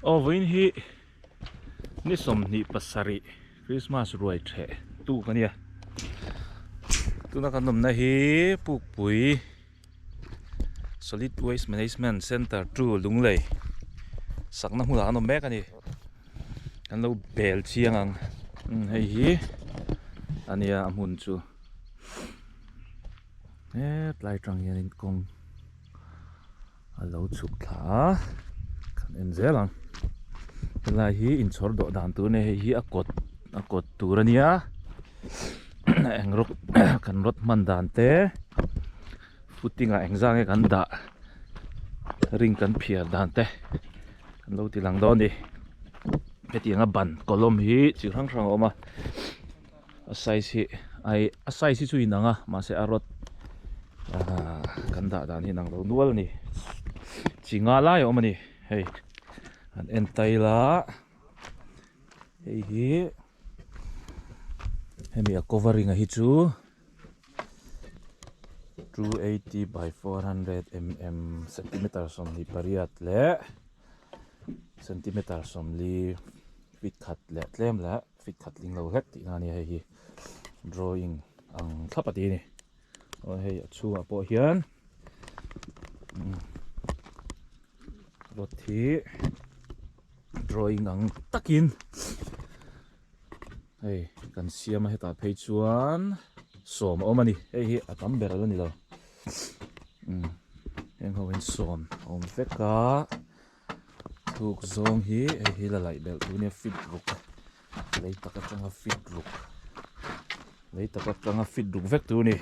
Aw vawiin hi ni sawmhnih pasarih Krismas ruai theh tu ka nia tuna kan awmna hi Pukpui Solid Waste Management Centre two Lunglei sakna hmunah kan awm mek a ni kan lo bel chiang ang hei hi a nia a hmun chu. hetlai atang hian in kawng a lo chhuk thla a kan en zel ang he lai hi in chhawr duah dan tur a ni a hei hi a kawt a kawt tur a nia a eng rawk kan rawt hman dan te footing ah eng zang nge kan dah ring kan phiar dan te kan lo ti lang dawn a ni hetiang a ban kawlawm hi chi hrang hrang a awm a. A size hi ai a size hi chu inang a mahse a rod ah kan dah dan hi inang lo nual a ni chi nga lai a awm a ni hei an en tail a hei hi hemi a covering a hi chu two eighty by four hundred mm centimeter sawmli pariat leh centimeter sawmli feet khat leh tlem leh. Fit khat ding lo hlek tihna ania hei hi drawing ang thlap a ti ni aw hei a chhungah pawh hian rod hi drawing ang takin hei kan siam a hetah phei chuan sawm a awm a ni hei hi a tam ber a la ni lo heng ho hian sawm a awm vek a. Buk zawng hi hei hi la laih belh tu nia fit ruk lei tak atanga fit ruk lei tak atanga fit ruk vek tu a ni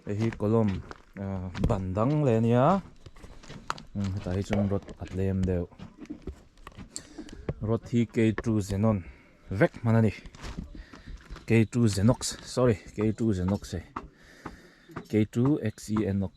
hei hi column aah ban dang leh a nia umm hetah hi chuan rod pakhat lem deuh rod hi k two xenon vek hman a ni k two xenox sorry k two xenox e k two x e n o x.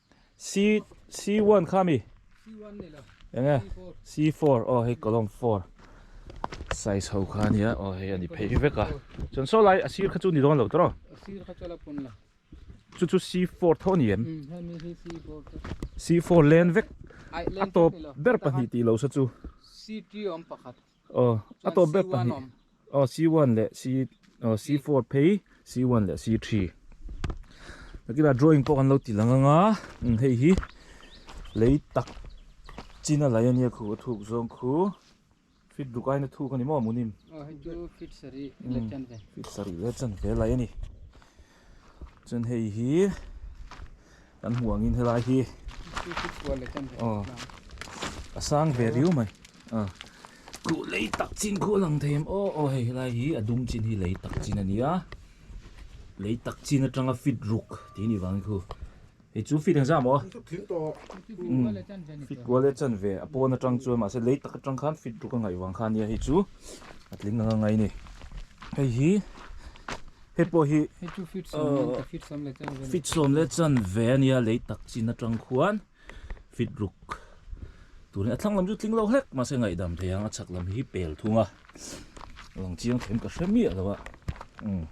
C C one kha mi C one ne lo enge C four o oh, hei column four size ho kha nia o oh, hei ani phei vek a chon so lai asir kha chu ni don lo tro asir kha chu la pun la chu chu C four tho ni em C four len vek a top ber pahnih ti lo sa chu C three om pakhat Aw a tawp ber pahnih aw c one leh c aw c four phei c one leh c three a kila drawing pawh kan lo ti lang anga hei hi lei tak chin a laih ania khu a thuk zawng khu fit duk aina thuk ani maw munin aw hei chu fit sarih leh chan ve fit sarih leh chan ve a laih ani Chuan hei hi kan hmuh angin helai hi aw a sang ve riu mai a khuh lei tak chin khuh a lang thei em aw aw hei helai hi a dum chin hi lei tak chin a ni a lei tak chin atanga fit ruk tih a nih vang hi khu. I chu fit engzah maw? Umm fit kual e chan ve a pawn atang chuan mahse lei tak atang khan fit tuk a ngaih vang kha nia hei chu a tling anga ngai ni. Hei hi hei pawh hi ahh fit sawm leh chan ve a nia lei tak chin atang khuan fit ruk turin a thlang lam chu tling lo hlek mahse ngaih dam thei ang a chhak lam hi hi pel thung a a lang chiang thiam ka hre miah lo a umm.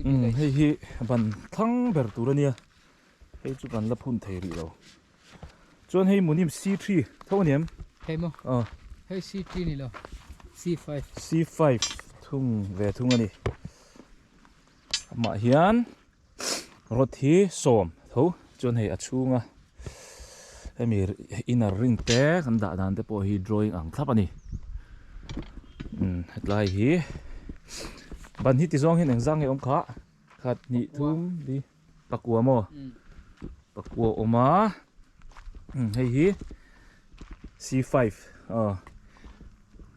umm hei hi ban thlang ber tur a nia hei chu ban la phun thei rih lo chuan hei munim c three tho aniam hei maw ah hei c three ni lo c five c five thung ve thung a ni amah hian Rod hi sawm tho chuan hei a chhunga hemi inner ring te kan dah dan te pawh hi drawing ang thlap a ni. Umm hetlai hi ban hi tizuang hian engzang nge awm kha khat hnih thum li pakua maw pakua a awm a umm hei hi c five aw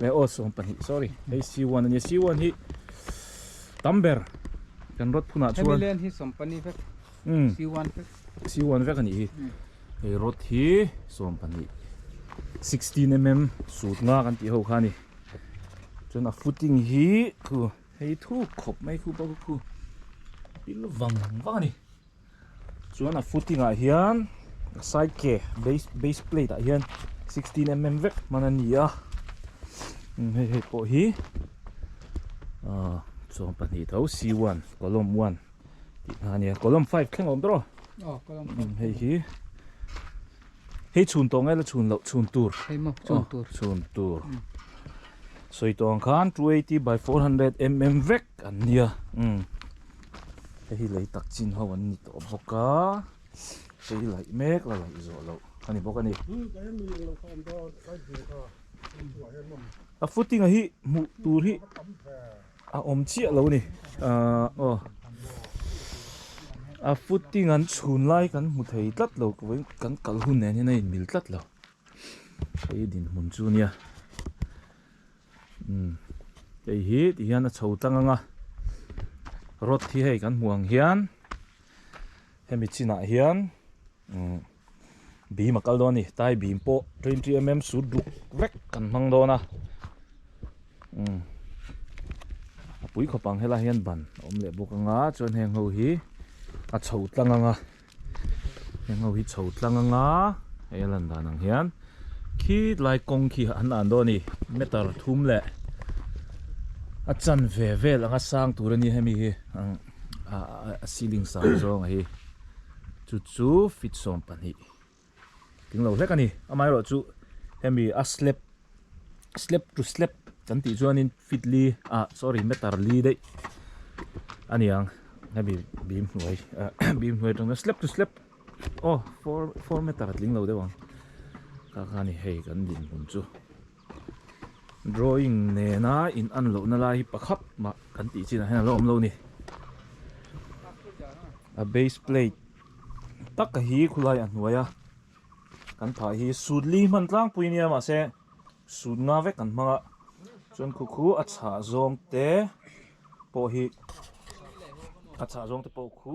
He aw sawm pahnih sorry hei C one ania C one hi tam ber kan road phunah chuan Hemi lane hi sawm pahnih vek um C one vek C one vek ani hi hei road hi sawm pahnih sixteen mm sut nga kan tih ho kha ani chuan a footing hi thu hei thu khawp mai khu pawh ka khu pil vang vang ani. Chuan a footing ah hian side ke base plate ah hian sixteen mm vek hman a ni a hei hei pawh hi ah chuan pahnih tho c one column one tih kha a nia column five thleng a awm tawh reuh hei hi hei chhun tawh ngai la chhun loh chhun tur chhun tur sawi tawh ang khan two eighty by four hundred mm vek an nia. hei hi lei tak chin ho an ni tawh bawk a hrei laih mek la laih zawh loh a ni bawk a ni a footing ah hi hmuh tur hi a awm chiah lo a ni ahh aw a footing an chhun lai kan hmu thei tlat lo vawin kan kal hun nen hian a inmil tlat lo hei dinhmun chu nia. Hei hi tih hian a chho tlang ang a, rod hi hei kan hmuh ang hian hemi chinah hian beam a kal dawn a ni, tie beam pawh twenty mm sut duk vek kan hmang dawn a, a pui khawp ang helaiah hian ban a awm leh bawk ang a, chuan heng ho hi a chho tlang ang a. Heng ho hi chho tlang anga hei a lan dan ang hian khi tlai kawng khi an han dawn a ni meter thum leh a chan ve vel anga sang tur a ni a hemi hi ang ah a ceiling sang zawng a hi chu chu feet sawm pahnih. Tling lo hlek a ni. Amaherawh chu hemi a slab slab to slab kan tih chuanin fitli ah sorry meter li daih a niang hemi bim hnuai bim hnuai atanga slab to slab aw four four meter a tling lo deuh ang ka kha a ni hei kan dinhmun chu. Drawing nena in an lohna lai hi pakhap mah kan tih chinah hian a lo awm lo ni. A base plate tak a hi khulai a hnuai a kan phah hi sut li hman tlangpui nia mah se sut nga vek kan hmang a chuan khu khu a chhah zawng te pawh hi a chhah zawng te pawh khu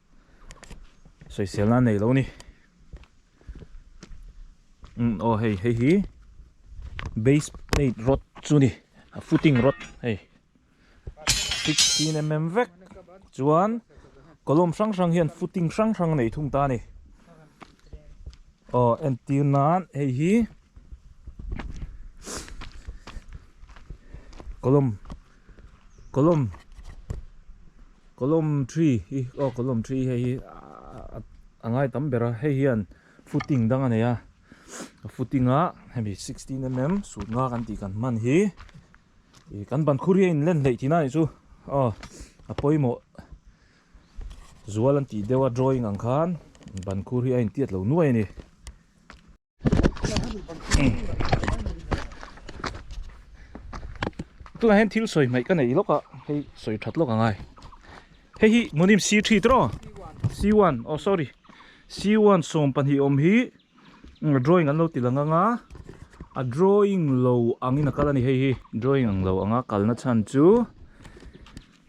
Soisel nan nei lo ni. Um aw hei hei hi base plate rod chu ni a footing rod hei sixteen mm vek chuan column hrang hrang hian footing hrang hrang a nei thung ta a ni aw entir nan hei hi column Kolom kolom three hi aw kolom three hei hi a ngai tam ber a hei hian footing dang a nei a a footing a hemi sixteen mm sut nga kan tih kan hman hi ih kan ban khur hi a inlen hleih thin a nih chu aw a pawimawh zual an tih deuh a drawing ang khan ban khur hi a intiat lo nuai a ni. tunah hian thil sawi hmaih ka nei lawk a hei sawi that lawk angai hei hi munim c three te rawh c one aw sorry c one sawm pahnih awm hi drawing an lo ti lang anga a drawing lo angin a kal a ni hei hi drawing ang lo anga kalna chhan chu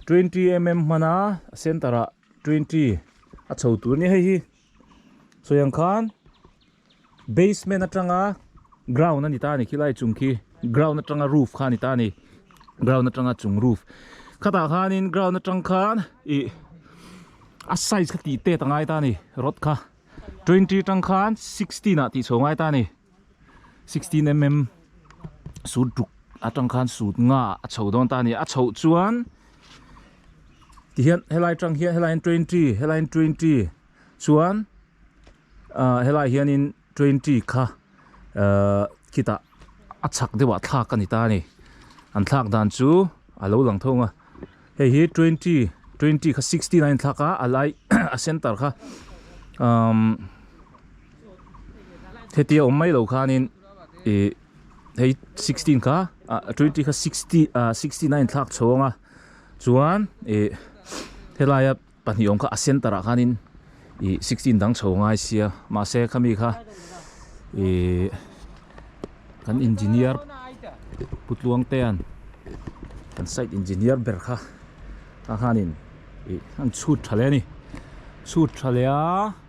twenty mm hmana centre ah twenty a chho tur a ni hei hi. Chutiang khan basement atanga ground a ni ta a ni khilai chung khi ground atanga roof kha a ni ta a ni ground atanga chung roof khatah khanin ground atang khan ih a size kha tih tet a ngai ta a ni rod kha twenty tang khan sixteen ah tih chho ngai ta a ni. sixteen mm sut tuk atang khan sut nga a chho dawn ta a ni a a chho chuan tihian helai tang hian helai hian twenty helai hian twenty chuan ah helai hian in twenty kha ah khitah a chak deuhah thlak a ni ta a ni an thlak dan chu a lo lang thung a. Hei hi twenty twenty kha sixteen a inthlak a a lai a center kha umm heti a awm mai lo khanin ih hei sixteen kha ah twenty kha sixty ah sixteen a inthlak chhawng a chuan ih helaia-- Pahnih awm kha a center ah khan in ih sixteen dang chho ngai sia mahse khami kha ih kan engineer Pu Tluang te an kan site engineer ber kha kha khan in ih an chhut tha leh a ni chhut tha leh a.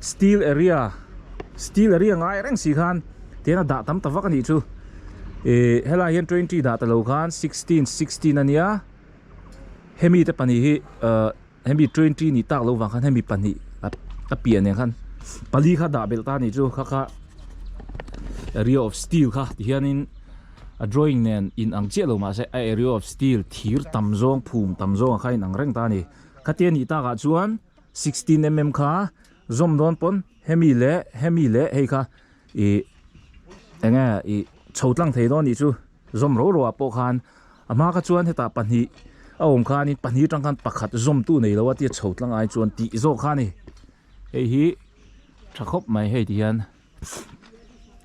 Steel area steel area ngai reng si khan tian a dah tam ta vak a nih chu ih helai hian twenty dah ta lo khan sixteen sixteen a nia hemi te pahnih hi ah hemi twenty nih tak lo vang khan hemi pahnih a piah nen khan pali kha dah belh ta a nih chu kha kha area of steel kha ti hian in a drawing nen in ang chiah lo mah se a area of steel thir tam zawng phum tam zawng kha in ang reng ta a ni khatia nih tak ah chuan Sixteen mm kha zawm dawn pawn hemi leh hemi leh hei kha ih enge ih chho tlang thei dawn anih chu zawm ro ro ah pawh khan a hma kha chuan hetah pahnih a awm khan in pahnih atang khan pakhat zawmtu nei lo a tia chho tlang ai chuan tih zawk kha a ni hei hi tha khawp mai hei ti hian.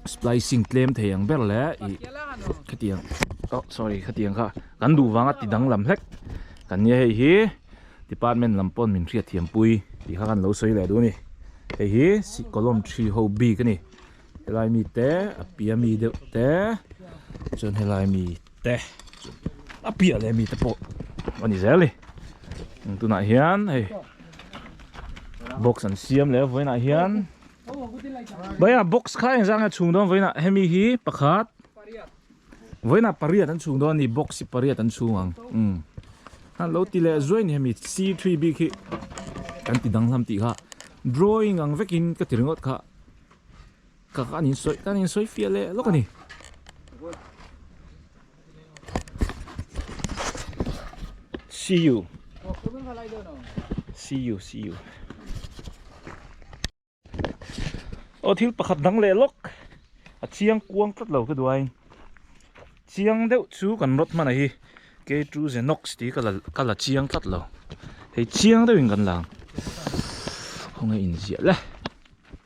splicing tlem thei ang ber le i khatiang oh sorry khatiang kha kan duh vanga ti danglam hlek kan nia hei hi department lam pawn min hriat thiam pui tih kha kan lo sawi leh duh a ni hei hi sikolawm ṭhi ho bik a ni helai mi te a piah mi deuh te chuan helai mi te a piah leh mi te pawh a ni zel ni tunah hian hei box an siam leh a vawiinah hian. Baiah box kha eng zanga chhung dawn vawiin ah hemi hi pakhat vawiin ah pariat an chhung dawn ani box hi pariat an chhung ang umm han lo ti leh zuai ni hemi c three bik hi kan ti dang hlam tih kha drawing ang vekin ka ti ringawt kha ka kan insawi kan insawi fiah leh lawk ani. See you. See you, see you. Ô thil pakhat dang leh lawk a chiang kuang tlat lo ka duain chiang deuh chu kan rawt hmana hi K2 Zenox tih ka la ka la chiang tlat lo hei chiang deuhin kan la ang khawnge inziah le.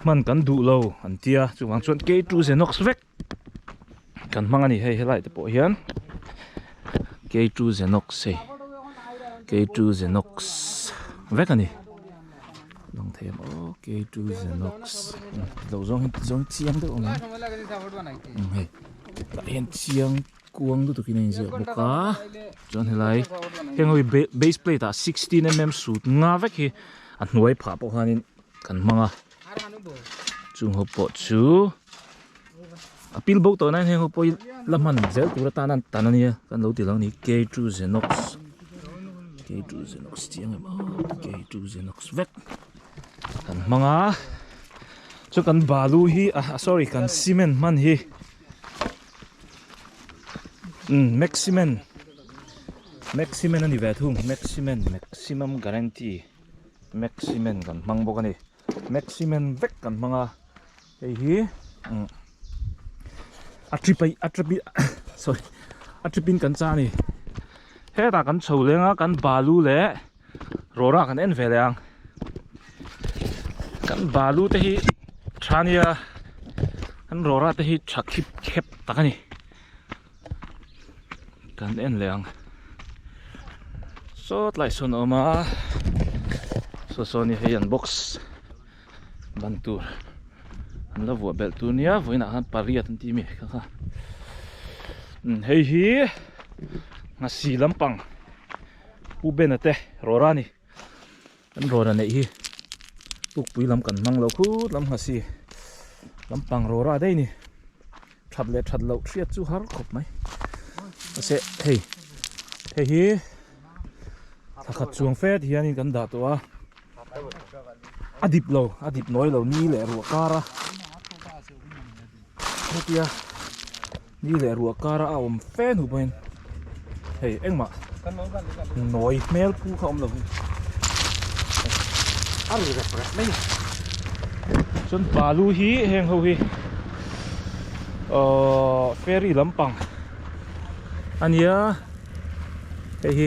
Hman kan duh lo an ti a, chuvang chuan kei tu Zenox vek kan hmang a ni hei, helai te pawh hian kei tu Zenox hei, kei tu Zenox vek a ni. Lang thei ang aw kei tu Zenox lo zawng hi zawng chiang deuh ang a, hei tah hian chiang-- Kuang lutuk in a in ziak bawk a, chuan helai heng ho hi base plate ah sixteen mm sut nga vek hi a hnuai phah pawh khanin kan hmang a, chung ho pawh chu a pil bo tawh naiin heng ho pawhin la hman zel tur atan an tan a nia kan lo ti lo a ni K two Zenox K two Zenox tih ang em a K two Zenox vek kan hmang a, chu kan balu hi ah sorry kan cement hman hi. um maximum maximum ani ve thung maximum maximum guarantee maximum kan hmang bawk ani maximum vek kan hmang a hei hi um a trip a a trip sorry a trip in kan chang ani hetah kan chho lenga kan balu leh Rawra kan en veleh ang kan balu te hi tha nia kan rawra te hi tha khip khep tak a ni kan en leh ang sawt lai sawn a awm a saw saw ni hei an box ban tur an la vuah belh tur nia vawiin ah khan pariat an tih mi kha kha hei hi ngasi lampang. Pu Bena te rawra ni. An rawra neih hi Tukpui lam kan hmang lo khut lam ngha si. Lampang rawra daih ni. That leh that loh hriat chu har khawp mai. Ase hei. Hei hi thla khat chuang fet hianin kan dah tawh a. A dip lo, a dip nawi lo ni leh ruah kara. Hetia. Ni leh ruah kara a awm fe hnu pawhin hei engmah nawi hmel pu kha awm lo hi a ri rep rep mai a chuan balu hi heng ho hi ahh ferry lampang a nia hei hi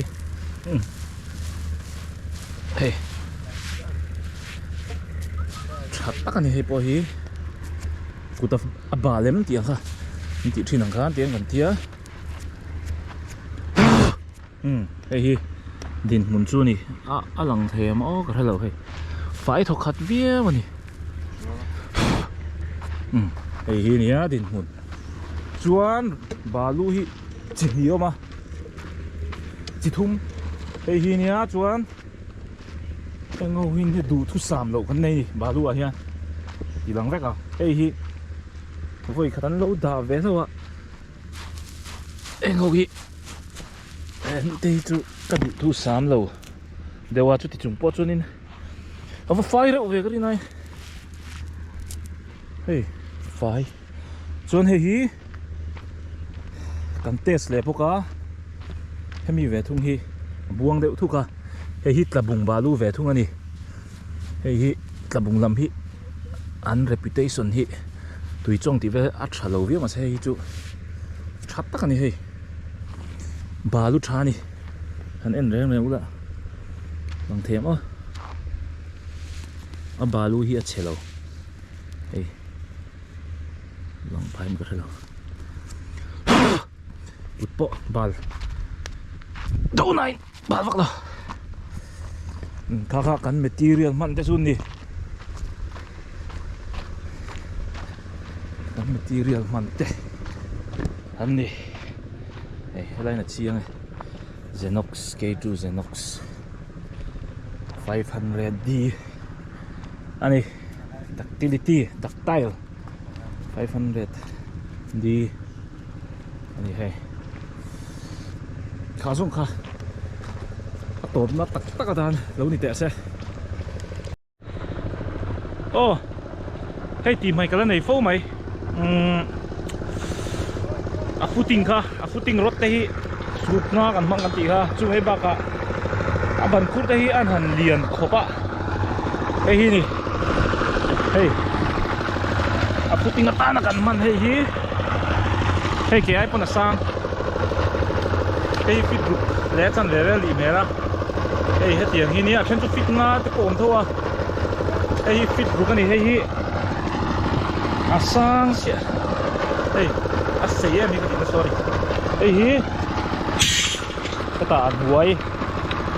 hei tha tak a ni hei pawh hi. kuta a ba lem tih ang kha an tih thin ang kha an ti ang kan tia umm hei hi dinhmun chu ni a a lang thei ang maw ka hre lo hei fai thaw khat viau a ni umm hei hi a nia dinhmun chuan balu hi chi hnih a awm a chi thum hei hi a nia chuan. Engho hian hei duhthusam loh kan nei ni balu ah hian ti dang vek a hei hi vawi khat an lo dah ve hlauh a engho hi hmute hi chu ka duhthusam lo deuh a chuti chung pawh chuanin a va fai reuh ve ka rin a hei fai. Chuan hei hi kan test leh bawk a, hemi ve thung hi a buang deuh thuk a, hei hi tlabung balu ve thung a ni. Hei hi tlabung lam hi an reputation hi tui chawng tih vel a tha lo viau mah se hei hi chu tha tak a ni hei. Balu tha a ni, han en reng reng ula bang thei ang aw, a balu hi a che lo. hei lang pahin ka hre lo kut pawh bal do nahin bal vak lo kha kha kan material hman te chu ni kan material hman te an ni hei helai na chiang e zenox k2 zenox five hundred d a ni. ductility ductile 500 d ani hei kha zong kha a tawp na tak tak a dan lo ni teh se oh hei ti mai kala nei fo mai umm a footing kha a footing rod te hi suk nga kan hmang kan tih kha chung hi bak ah a ban khur te hi an han lian khawp a hei hi ni hei a footing atan a kan man hei hi hei ke ai pawn a sang hei fit ruk le a chan ve ve lih hmel a hei hetiang hi nia a then chu fit nga te pawh awm tho a hei hi fit ruk a ni hei hi a sang sia hei a sei em hi ka ti ta sorry hei hi heta hnuai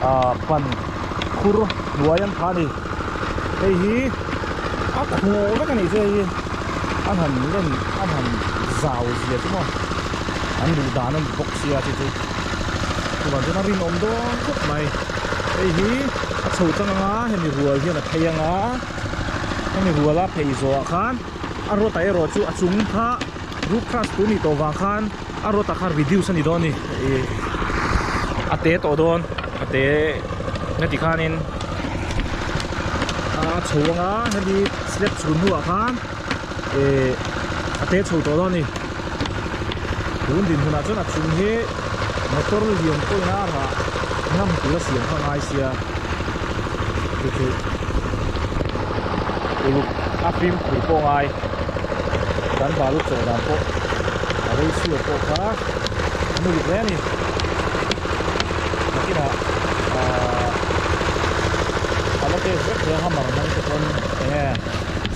a pan khur hnuai an phah a ni hei hi a khu vek a nih chu hei hi a han len a han zau zia chu maw an luh dan a ni bawk sia chu chu chuvang chuan a rinawm dawn khawp mai hei hi a chho chang anga hemi rual hian a thei anga. hemi huala phei zawhah khan a rota erawh chu a chung kha Ruk Kras pûn nih tawh vang khan a rota khan reduce a ni dawn a ni ih a tê tawh dawn a tê nge ti khanin a chho anga hemi slab chhun hnuah khan-- eh a te chho tawh lo a ni tun din hunah chuan a chung hi motor lian pawhin a rah ngham tura siam kha a ngai sia chuchuh uluk a fim khur pawh a ngai kan balu chaw dan pawh a rei chhuak pawh kha a muluk hle a ni takinah ah a la tek vek hle a hammer hmang te chuan eng nge.